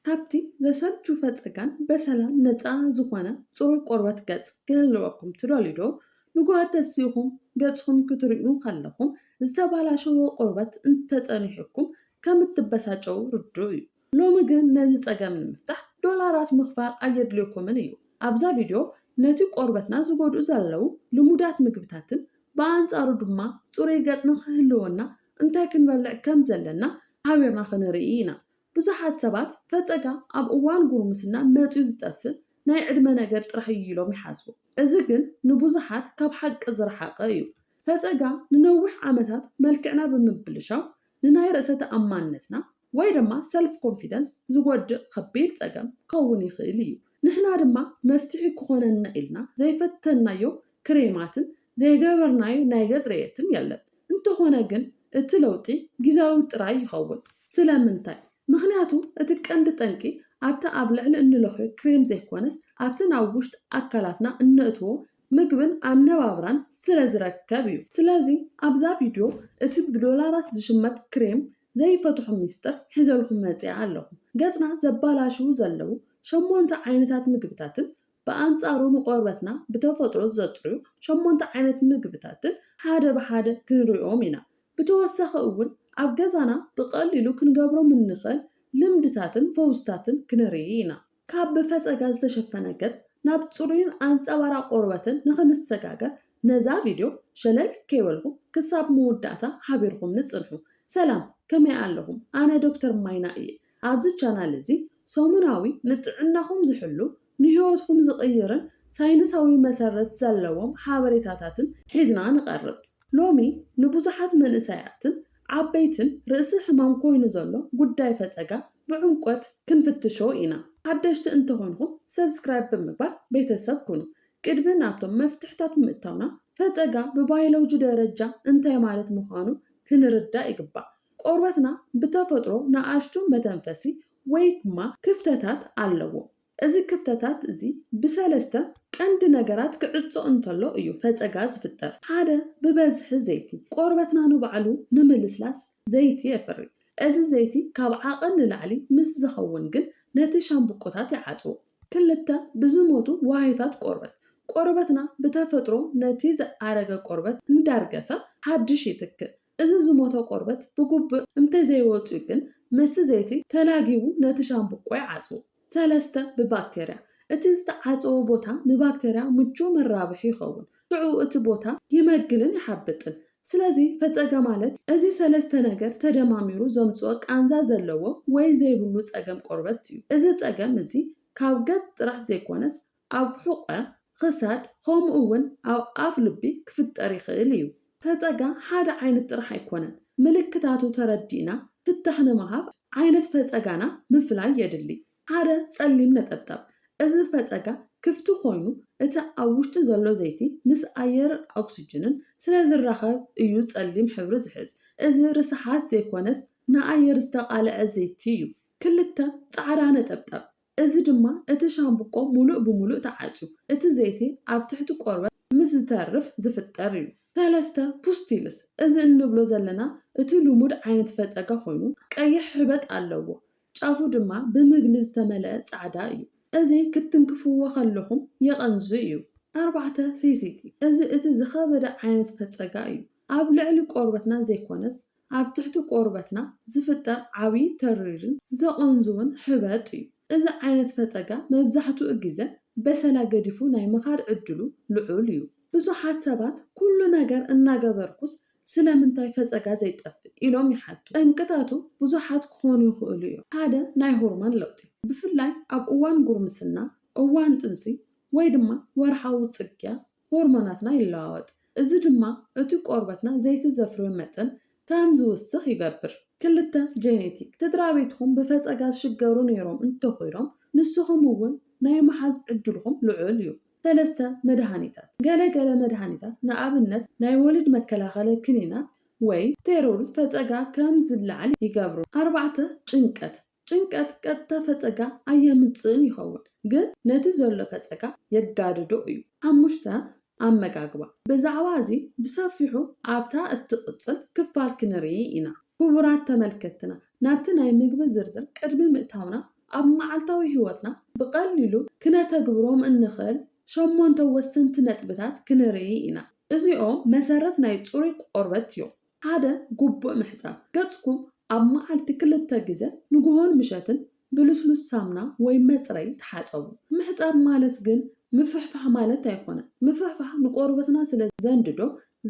ካብቲ ዘሰልቹ ፈጸጋን በሰላ ነጻ ዝኾነ ጽሩይ ቆርበት ገጽ ክህልወኩም ትደልዩዶ? ንግሆ ተሲእኹም ገጽኹም ክትርእዩ ከለኹም ዝተበላሸወ ቆርበት እንተጸኒሑኩም ከም እትበሳጨዉ ርዱእ እዩ። ሎሚ ግን ነዚ ጸገም ንምፍታሕ ዶላራት ምኽፋል ኣየድልየኩምን እዩ። ኣብዛ ቪድዮ ነቲ ቆርበትና ዝጎድኡ ዘለዉ ልሙዳት ምግብታትን ብኣንጻሩ ድማ ጽሩይ ገጽ ንኽህልወና እንታይ ክንበልዕ ከም ዘለና ሓቢርና ክንርኢ ኢና። ብዙሓት ሰባት ፈጸጋ ኣብ እዋን ጉርምስና መጺኡ ዝጠፍእ ናይ ዕድመ ነገር ጥራሕ እዩ ኢሎም ይሓስቡ። እዚ ግን ንብዙሓት ካብ ሓቂ ዝረሓቐ እዩ። ፈጸጋ ንነዊሕ ዓመታት መልክዕና ብምብልሻው ንናይ ርእሰ ተኣማንነትና፣ ወይ ድማ ሰልፍ ኮንፊደንስ፣ ዝጎድእ ከቢድ ጸገም ክኸውን ይኽእል እዩ። ንሕና ድማ መፍትሒ ክኾነና ኢልና ዘይፈተንናዮ ክሬማትን ዘይገበርናዩ ናይ ገጽ ርእየትን የለን። እንተኾነ ግን እቲ ለውጢ ጊዛዊ ጥራይ ይኸውን። ስለምንታይ? ምኽንያቱ እቲ ቀንዲ ጠንቂ ኣብቲ ኣብ ልዕሊ እንለኽዮ ክሬም ዘይኮነስ ኣብቲ ናብ ውሽጢ ኣካላትና እነእትዎ ምግብን ኣነባብራን ስለ ዝረከብ እዩ። ስለዚ ኣብዛ ቪድዮ እቲ ብዶላራት ዝሽመት ክሬም ዘይፈትሖ ሚስጥር ሒዘልኩም መጺኣ ኣለኹ። ገጽና ዘባላሽዉ ዘለዉ ሸሞንተ ዓይነታት ምግብታትን ብኣንጻሩ ንቆርበትና ብተፈጥሮ ዘጽርዩ ሸሞንተ ዓይነት ምግብታትን ሓደ ብሓደ ክንሪኦም ኢና። ብተወሳኺ እውን ኣብ ገዛና ብቐሊሉ ክንገብሮም እንኽእል ልምድታትን ፈውስታትን ክንርኢ ኢና። ካብ ብፈጸጋ ዝተሸፈነ ገጽ ናብ ጽሩይን ኣንጸባራቕ ቆርበትን ንኽንሰጋገር ነዛ ቪድዮ ሸለል ከይበልኩም ክሳብ መወዳእታ ሓቢርኩምኒ ጽንሑ። ሰላም ከመይ ኣለኹም ኣነ ዶክተር ማይና እየ። ኣብዚ ቻናል እዚ ሰሙናዊ ንጥዕናኹም ዝሕሉ ንህይወትኩም ዝቕይርን ሳይንሳዊ መሰረት ዘለዎም ሓበሬታታትን ሒዝና ንቐርብ። ሎሚ ንብዙሓት መንእሰያትን ዓበይትን ርእሲ ሕማም ኮይኑ ዘሎ ጉዳይ ፈጸጋ ብዕምቆት ክንፍትሾ ኢና። ሓደሽቲ እንተኾንኩም ሰብስክራይብ ብምግባር ቤተሰብ ኩኑ። ቅድሚ ናብቶም መፍትሕታት ምእታውና ፈጸጋ ብባይሎጂ ደረጃ እንታይ ማለት ምዃኑ ክንርዳእ ይግባእ። ቆርበትና ብተፈጥሮ ንኣሽቱ መተንፈሲ ወይ ድማ ክፍተታት ኣለዎ። እዚ ክፍተታት እዚ ብሰለስተ ቀንዲ ነገራት ክዕጾ እንተሎ እዩ ፈጸጋ ዝፍጠር። ሓደ ብበዝሒ ዘይቲ፣ ቆርበትና ንባዕሉ ንምልስላስ ዘይቲ የፍሪ። እዚ ዘይቲ ካብ ዓቐን ንላዕሊ ምስ ዝኸውን ግን ነቲ ሻምብቆታት ይዓጽዎ። ክልተ ብዝሞቱ ዋህዮታት ቆርበት፣ ቆርበትና ብተፈጥሮ ነቲ ዝኣረገ ቆርበት እንዳርገፈ ሓድሽ ይትክእ። እዚ ዝሞተ ቆርበት ብጉብእ እንተዘይወጽዩ ግን ምስቲ ዘይቲ ተላጊቡ ነቲ ሻምብቆ ይዓጽዎ። ሰለስተ፣ ብባክተርያ እቲ ዝተዓጸወ ቦታ ንባክተርያ ምቹው መራብሒ ይኸውን። ሽዑ እቲ ቦታ ይመግልን ይሓብጥን። ስለዚ ፈጸገ ማለት እዚ ሰለስተ ነገር ተደማሚሩ ዘምጽኦ ቃንዛ ዘለዎ ወይ ዘይብሉ ጸገም ቆርበት እዩ። እዚ ጸገም እዚ ካብ ገጽ ጥራሕ ዘይኮነስ ኣብ ሑቘ ኽሳድ ኸምኡ እውን ኣብ ኣፍ ልቢ ክፍጠር ይኽእል እዩ። ፈጸጋ ሓደ ዓይነት ጥራሕ ኣይኮነን። ምልክታቱ ተረዲእና ፍታሕ ንምሃብ ዓይነት ፈጸጋና ምፍላይ የድሊ። ሓደ ጸሊም ነጠብጣብ፣ እዚ ፈጸጋ ክፍቲ ኾይኑ እቲ ኣብ ውሽጢ ዘሎ ዘይቲ ምስ ኣየርን ኦክስጅንን ስለ ዝራኸብ እዩ ጸሊም ሕብሪ ዝሕዝ። እዚ ርስሓት ዘይኮነስ ንኣየር ዝተቓልዐ ዘይቲ እዩ። ክልተ ጻዕዳ ነጠብጣብ፣ እዚ ድማ እቲ ሻምብቆ ምሉእ ብምሉእ ተዓጽዩ እቲ ዘይቲ ኣብ ትሕቲ ቆርበት ምስ ዝተርፍ ዝፍጠር እዩ። ሰለስተ፣ ፑስቲልስ፣ እዚ እንብሎ ዘለና እቲ ልሙድ ዓይነት ፈጸጋ ኮይኑ ቀይሕ ሕበጥ ኣለዎ ጫፉ ድማ ብምግሊ ዝተመልአ ጻዕዳ እዩ። እዚ ክትትንክፍዎ ከለኹም የቐንዙ እዩ። ኣርባዕተ፣ ሴሲቲ፣ እዚ እቲ ዝኸበደ ዓይነት ፈጸጋ እዩ። ኣብ ልዕሊ ቆርበትና ዘይኮነስ ኣብ ትሕቲ ቆርበትና ዝፍጠር ዓቢ ተሪርን ዘቐንዝውን ሕበጥ እዩ። እዚ ዓይነት ፈጸጋ መብዛሕትኡ ግዘ በሰላ ገዲፉ ናይ ምኻድ ዕድሉ ልዑል እዩ። ብዙሓት ሰባት ኩሉ ነገር እናገበርኩስ ስለምንታይ ፈጸጋ ዘይጠፍእ ኢሎም ይሓቱ። ጠንቅታቱ ብዙሓት ክኾኑ ይኽእሉ እዮም። ሓደ ናይ ሆርሞን ለውጢ፣ ብፍላይ ኣብ እዋን ጉርምስና፣ እዋን ጥንሲ ወይ ድማ ወርሓዊ ጽግያ ሆርሞናትና ይለዋወጥ፣ እዚ ድማ እቲ ቆርበትና ዘይቲ ዘፍርዮ መጠን ከም ዝውስኽ ይገብር። ክልተ፣ ጀኔቲክ፣ ስድራቤትኩም ብፈጸጋ ዝሽገሩ ነይሮም እንተኹይኖም፣ ንስኹም እውን ናይ ምሓዝ ዕድልኹም ልዑል እዩ። ሰለስተ፣ መድሃኒታት፣ ገለ ገለ መድሃኒታት፣ ንኣብነት ናይ ወሊድ መከላኸሊ ክኒናት ወይ። ስቴሮይድ፣ ፈጸጋ ከም ዝለዓል ይገብሩ። ኣርባዕተ፣ ጭንቀት፣ ጭንቀት ቀጥታ ፈጸጋ ኣየምጽእን ይኸውን፣ ግን ነቲ ዘሎ ፈጸጋ የጋድዶ እዩ። ሓሙሽተ፣ ኣመጋግባ። ብዛዕባ እዚ ብሰፊሑ ኣብታ እትቕጽል ክፋል ክንርኢ ኢና። ክቡራት ተመልከትትና፣ ናብቲ ናይ ምግቢ ዝርዝር ቅድሚ ምእታውና፣ ኣብ መዓልታዊ ህይወትና ብቐሊሉ ክነተግብሮም እንኽእል ሸሞንተ ወሰንቲ ነጥብታት ክንርኢ ኢና። እዚኦም መሰረት ናይ ጽሩይ ቆርበት እዮም። ሓደ ጉቡእ ምሕጻብ፣ ገጽኩም ኣብ መዓልቲ ክልተ ግዘ ንጉሆን ምሸትን ብልስሉስ ሳምና ወይ መጽረይ ተሓጸቡ። ምሕጻብ ማለት ግን ምፍሕፋሕ ማለት ኣይኮነን። ምፍሕፋሕ ንቆርበትና ስለ ዘንድዶ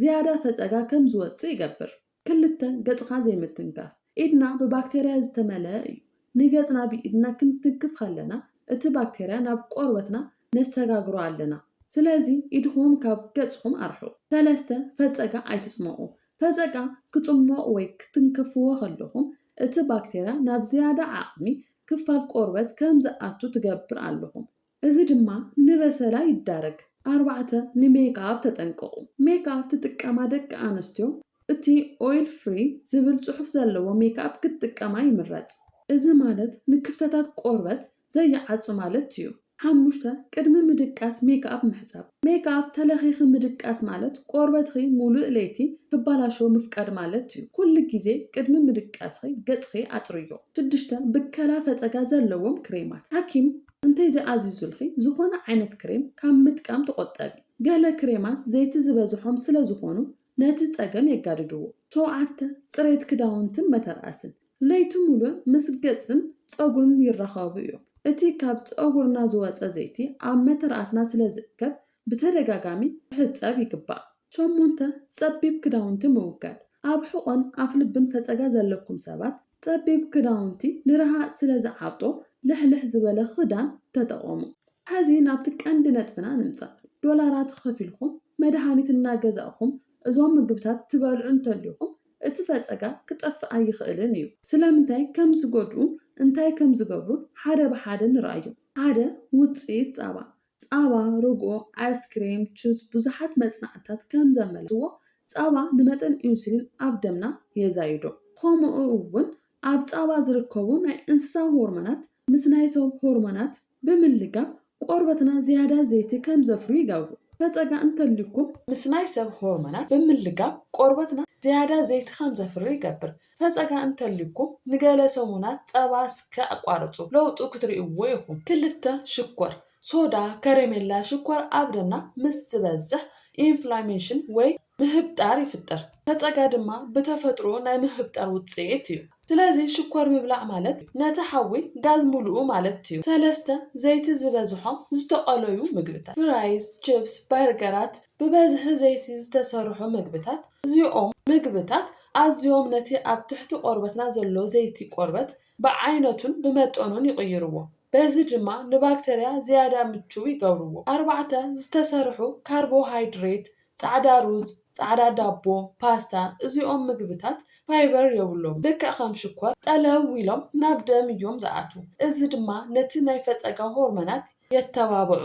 ዝያዳ ፈጸጋ ከም ዝወጽእ ይገብር። ክልተ፣ ገጽካ ዘይምትንካፍ፣ ኢድና ብባክተርያ ዝተመልኣ እዩ። ንገጽና ብኢድና ክንትንክፍ ከለና እቲ ባክተርያ ናብ ቆርበትና ነሰጋግሮ ኣለና ስለዚ ኢድኹም ካብ ገጽኹም ኣርሕቁ። ሰለስተ፣ ፈጸጋ ኣይትጽሞቁ። ፈጸጋ ክጽሞቅ ወይ ክትንከፍዎ ከለኹም እቲ ባክተርያ ናብ ዝያዳ ዓቅሚ ክፋል ቆርበት ከም ዝኣቱ ትገብር ኣለኹም። እዚ ድማ ንበሰላ ይዳረግ። ኣርባዕተ፣ ንሜክኣፕ ተጠንቀቑ። ሜክኣፕ ትጥቀማ ደቂ ኣንስትዮ፣ እቲ ኦይል ፍሪ ዝብል ጽሑፍ ዘለዎ ሜክኣፕ ክትጥቀማ ይምረጽ። እዚ ማለት ንክፍተታት ቆርበት ዘይዓጹ ማለት እዩ። ሓሙሽተ፣ ቅድሚ ምድቃስ ሜክኣፕ ምሕጻብ። ሜክኣፕ ተለኺኺ ምድቃስ ማለት ቆርበትኺ ሙሉእ ለይቲ ክባላሸው ምፍቃድ ማለት እዩ። ኩሉ ግዜ ቅድሚ ምድቃስኺ ገጽኺ ኣጽርይዮ። ሽዱሽተ፣ ብከላ ፈጸጋ ዘለዎም ክሬማት። ሓኪም እንተዘይኣዚዙልኺ ዝኾነ ዓይነት ክሬም ካብ ምጥቃም ተቖጠቢ። ገለ ክሬማት ዘይቲ ዝበዝሖም ስለ ዝኾኑ ነቲ ጸገም የጋድድዎ። ሸውዓተ፣ ጽሬት ክዳውንትን መተርኣስን። ለይቲ ምሉእ ምስ ገጽን ጸጉርን ይራኸቡ እዮም። እቲ ካብ ጸጉርና ዝወጸ ዘይቲ ኣብ መተርኣስና ስለ ዝእከብ ብተደጋጋሚ ክሕጸብ ይግባእ። ሸሞንተ፣ ጸቢብ ክዳውንቲ ምውጋድ። ኣብ ሕቖን ኣፍልብን ፈጸጋ ዘለኩም ሰባት፣ ጸቢብ ክዳውንቲ ንረሃጽ ስለ ዝዓብጦ ልሕልሕ ዝበለ ክዳን ተጠቐሙ። ሕዚ ናብቲ ቀንዲ ነጥብና ንምጻእ። ዶላራት ከፊልኩም መድሃኒት እናገዛእኹም እዞም ምግብታት ትበልዑ እንተልዩኹም፣ እቲ ፈጸጋ ክጠፍእ ኣይኽእልን እዩ። ስለምንታይ ከም ዝጎድኡን እንታይ ከም ዝገብሩን ሓደ ብሓደ ንርኣዮም። ሓደ፣ ውጽኢት ጻባ። ጸባ፣ ርግኦ፣ ኣይስክሬም፣ ቹዝ፣ ብዙሓት መጽናዕትታት ከም ዘመልክትዎ ጸባ ንመጠን ኢንሱሊን ኣብ ደምና የዛይዶ። ኸምኡ እውን ኣብ ጸባ ዝርከቡ ናይ እንስሳ ሆርሞናት ምስ ናይ ሰብ ሆርሞናት ብምልጋብ ቆርበትና ዝያዳ ዘይቲ ከም ዘፍርዩ ይገብሩ። ፈጸጋ እንተልዩኩም። ምስ ናይ ሰብ ሆርሞናት ብምልጋብ ቆርበትና ዝያዳ ዘይቲ ከም ዘፍሪ ይገብር። ፈጸጋ እንተልዩኩም ንገለ ሰሙናት ጸባ ስከ ኣቋርጹ ለውጡ ክትርእይዎ ኢኹም። ክልተ፣ ሽኮር፣ ሶዳ፣ ከረሜላ፣ ሽኮር ኣብ ደምና ምስ ዝበዝሕ ኢንፍላሜሽን ወይ ምህብጣር ይፍጠር። ፈጸጋ ድማ ብተፈጥርኡ ናይ ምህብጣር ውጽኢት እዩ። ስለዚ ሽኮር ምብላዕ ማለት ነቲ ሓዊ ጋዝ ምልኡ ማለት እዩ። ሰለስተ፣ ዘይቲ ዝበዝሖም ዝተቐለዩ ምግብታት። ፍራይዝ፣ ችፕስ፣ በርገራት፣ ብበዝሒ ዘይቲ ዝተሰርሑ ምግብታት። እዚኦም ምግብታት ኣዝዮም ነቲ ኣብ ትሕቲ ቆርበትና ዘሎ ዘይቲ ቆርበት ብዓይነቱን ብመጠኑን ይቕይርዎ። በዚ ድማ ንባክተርያ ዝያዳ ምቹው ይገብርዎ። ኣርባዕተ፣ ዝተሰርሑ ካርቦሃይድሬት፣ ጻዕዳ ሩዝ፣ ጻዕዳ ዳቦ፣ ፓስታ፣ እዚኦም ምግብታት ፋይበር የብሎምን። ልክዕ ከም ሽኮር ጠለው ኢሎም ናብ ደም እዮም ዝኣትዉ፣ እዚ ድማ ነቲ ናይ ፈጸጋ ሆርሞናት የተባብዑ።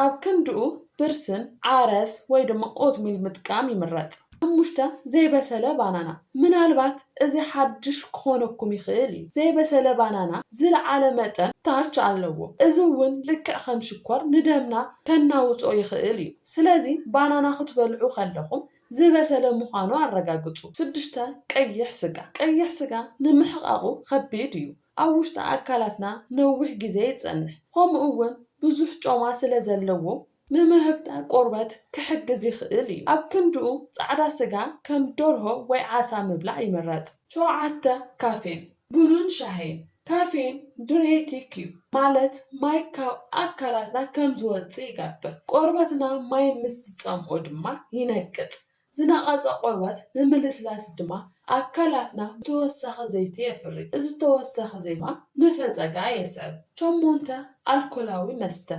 ኣብ ክንድኡ ብርስን፣ ዓረስ ወይ ድማ ኦትሚል ምጥቃም ይምረጽ። ሓሙሽተ፣ ዘይበሰለ ባናና። ምናልባት እዚ ሓድሽ ክኾነኩም ይኽእል እዩ። ዘይበሰለ ባናና ዝለዓለ መጠን ስታርች ኣለዎ፣ እዚ እውን ልክዕ ከም ሽኮር ንደምና ከናውጾ ይኽእል እዩ። ስለዚ ባናና ክትበልዑ ከለኹም ዝበሰለ ምዃኑ ኣረጋግጹ። ሽዱሽተ፣ ቀይሕ ስጋ። ቀይሕ ስጋ ንምሕቓቑ ከቢድ እዩ። ኣብ ውሽጢ ኣካላትና ነዊሕ ግዜ ይጸንሕ ኸምኡ እውን ብዙሕ ጮማ ስለ ዘለዎ ንምህብጣር ቆርበት ክሕግዝ ይኽእል እዩ። ኣብ ክንድኡ ጻዕዳ ስጋ ከም ደርሆ ወይ ዓሳ ምብላዕ ይምረጽ። ሸውዓተ፣ ካፌን ቡንን ሻሂን፣ ካፌን ድሬቲክ እዩ ማለት ማይ ካብ ኣካላትና ከም ዝወጽእ ይገብር ቆርበትና ማይ ምስ ዝጸምኦ ድማ ይነቅጽ ዝነቐጸ ቆርበት ንምልስላስ ድማ ኣካላትና ተወሳኺ ዘይቲ የፍሪ። እዚ ተወሳኺ ዘይቲ ድማ ነፈጸጋ የስዕብ። ሸሞንተ፣ ኣልኮላዊ መስተ፣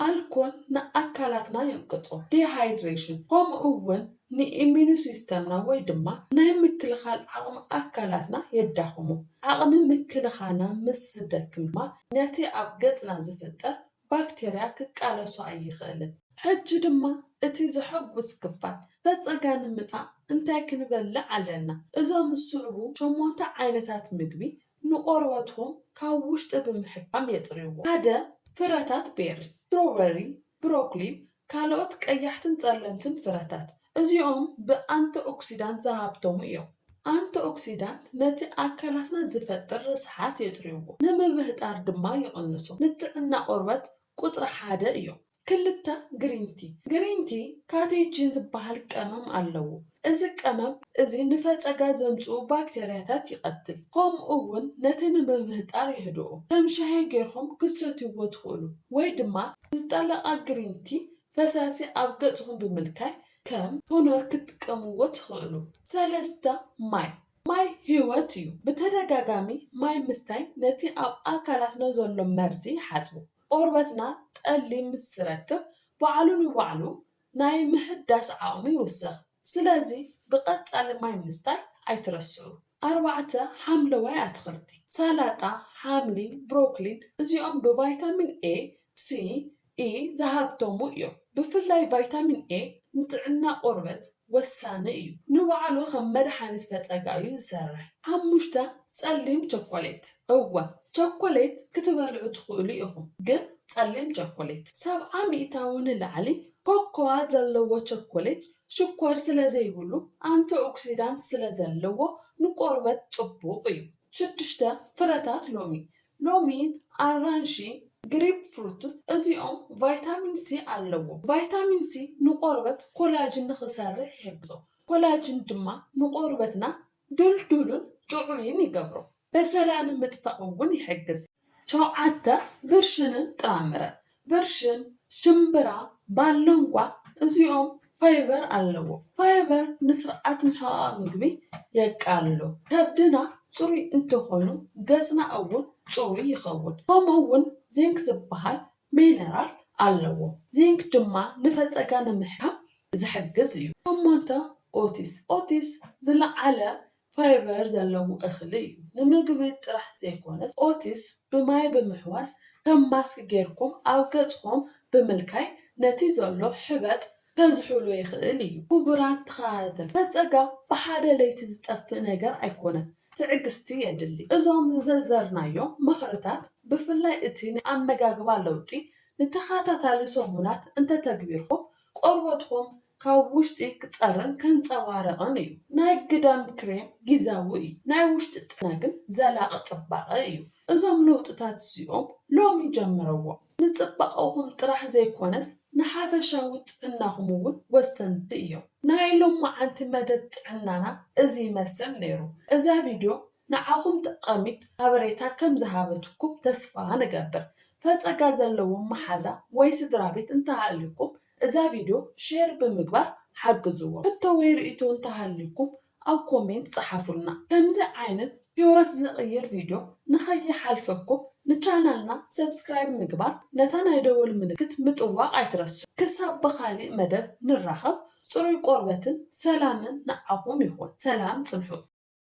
ኣልኮል ንኣካላትና የንቅጾ፣ Dehydration፣ ከምኡ'ውን ንኢሚኑሲስተምና ወይ ድማ ናይ ምክልኻል ዓቕሚ ኣካላትና የዳኽሞ። ዓቕሚ ምክልኻና ምስ ዝደክም ድማ ነቲ ኣብ ገጽና ዝፍጠር ባክተርያ ክቃለሶ ኣይኽእልን። ሕጂ ድማ እቲ ዘሐጉስ ክፋል፣ ፈጸጋ ንምጥፋእ እንታይ ክንበልዕ ኣለና? እዞም ዝስዕቡ ሸሞንተ ዓይነታት ምግቢ ንቆርበትኩም ካብ ውሽጢ ብምሕካም የጽርይዎ። ሓደ፣ ፍረታት ቤርስ፣ ስትሮበሪ፣ ብሮኮሊን ካልኦት ቀያሕትን ጸለምትን ፍረታት፣ እዚኦም ብኣንቲኦክሲዳንት ዝሃብተሙ እዮም። ኣንቲኦክሲዳንት ነቲ ኣካላትና ዝፈጥር ርስሓት የጽርይዎ፣ ንምብህጣር ድማ ይቕንሱ። ንጥዕና ቆርበት ቁጽሪ ሓደ እዮም። ክልተ ግሪን ቲ፣ Green Tea፣ ካቴቺን ዝበሃል ቀመም ኣለዎ፣ እዚ ቀመም እዚ ንፈጸጋ ዘምጽኡ ባክተርያታት ይቐትል ከምኡ ውን ነቲ ንምህጣር የህድኦ። ከም ሻሂ ጌርኩም ክትሰትይዎ ትኽእሉ ወይ ድማ ንዝጠለቐ ግሪን ቲ ፈሳሲ ኣብ ገጽኹም ብምልካይ ከም ቶነር ክትጥቀምዎ ትኽእሉ። ሰለስተ፣ ማይ ማይ ህይወት እዩ። ብተደጋጋሚ ማይ ምስታይ ነቲ ኣብ ኣካላትና ዘሎ መርዚ ይሓጽቦ። ቆርበትና ጠሊ ምስ ዝረክብ ባዕሉ ንባዕሉ ናይ ምህዳስ ዓቕሙ ይውስኽ። ስለዚ ብቐጻሊ ማይ ምስታይ ኣይትረስዑ። ኣርባዕተ፣ ሓምለዋይ ኣትኽልቲ፣ ሳላጣ፣ ሓምሊ፣ ብሮክሊን፣ እዚኦም ብቫይታሚን ኤ፣ ሲ፣ ኢ ዝሃብተሙ እዮም። ብፍላይ ቫይታሚን ኤ ንጥዕና ቆርበት ወሳኒ እዩ። ንባዕሉ ከም መድሓኒት ፈጸጋ እዩ ዝሰርሕ። ሓሙሽተ፣ ጸሊም ቸኮሌት፣ እወ ቸኮሌት ክትበልዑ ትኽእሉ ኢኹም፣ ግን ጸሊም ቸኮሌት። ሰብዓ ሚእታዊ ንላዕሊ ኮኮዋ ዘለዎ ቸኮሌት ሽኮር ስለ ዘይብሉ ኣንቲኦክሲዳንት ስለ ዘለዎ ንቆርበት ጽቡቕ እዩ። ሽዱሽተ ፍረታት ሎሚ፣ ሎሚን፣ ኣራንሺ፣ ግሪፕ ፍሩትስ፣ እዚኦም ቫይታሚን ሲ ኣለዎም። ቫይታሚን ሲ ንቆርበት ኮላጅን ንኽሰርሕ ይሕግዞ፣ ኮላጅን ድማ ንቆርበትና ድልዱልን ጥዑይን ይገብሮ። በሰላ ንምጥፋእ እውን ይሕግዝ። ሸውዓተ፣ ብርሽንን ጥራምረን፣ ብርሽን፣ ሽምብራ፣ ባሎንጓ፣ እዚኦም ፋይበር ኣለዎም። ፋይበር ንስርዓት ምሕቓቕ ምግቢ የቃልሎ። ከብድና ፅሩይ እንተኾይኑ ገፅና እውን ፅሩይ ይኸውን። ከምኡ እውን ዚንክ ዝበሃል ሚነራል ኣለዎ። ዚንክ ድማ ንፈጸጋ ንምሕካም ዝሕግዝ እዩ። ሸሞንተ፣ ኦትስ፣ ኦትስ ዝለዓለ ፋይበር ዘለዎ እኽሊ እዩ። ንምግቢ ጥራሕ ዘይኮነስ ኦትስ ብማይ ብምሕዋስ ከም ማስክ ጌርኩም ኣብ ገጽኹም ብምልካይ ነቲ ዘሎ ሕበጥ ከዝሑሉ ይኽእል እዩ። ኩቡራት ተኻታተልቲ ሰብ ጸጋ ብሓደ ለይቲ ዝጠፍእ ነገር ኣይኮነን ትዕግስቲ የድሊ። እዞም ዝዘርዘርናዮም ምኽርታት ብፍላይ እቲ ናይ ኣመጋግባ ለውጢ ንተኻታታሊ ሰሙናት እንተተግቢርኩም ቆርበትኩም ካብ ውሽጢ ክጸርን ከንጸባርቕን እዩ። ናይ ግዳም ክሬም ጊዛዊ እዩ ናይ ውሽጢ ጥዕና ግን ዘላቒ ጽባቐ እዩ። እዞም ለውጥታት እዚኦም ሎሚ ጀምረዎም። ንጽባቐኹም ጥራሕ ዘይኮነስ ንሓፈሻዊ ጥዕናኹም እውን ወሰንቲ እዮም። ናይ ሎምዓንቲ መደብ ጥዕናና እዚ ይመስል ነይሩ። እዛ ቪድዮ ንዓኹም ጠቓሚት ሓበሬታ ከም ዝሃበትኩም ተስፋ ንገብር። ፈጸጋ ዘለዎም መሓዛ ወይ ስድራቤት እንተሃልዩኩም እዛ ቪድዮ ሼር ብምግባር ሓግዝዎም። ሕቶ ወይ ርእይቶ እንተሃልዩኩም ኣብ ኮሜንት ጸሓፉልና ከምዚ ዓይነት ሂወት ዝቅይር ቪድዮ ንከይሓልፈኩም ንቻናልና ሰብስክራይብ ምግባር ነታ ናይ ደወል ምልክት ምጥዋቅ ኣይትረስዑ ክሳብ ብካሊእ መደብ ንራከብ ጽሩይ ቆርበትን ሰላምን ንዓኩም ይኩን ሰላም ጽንሑ።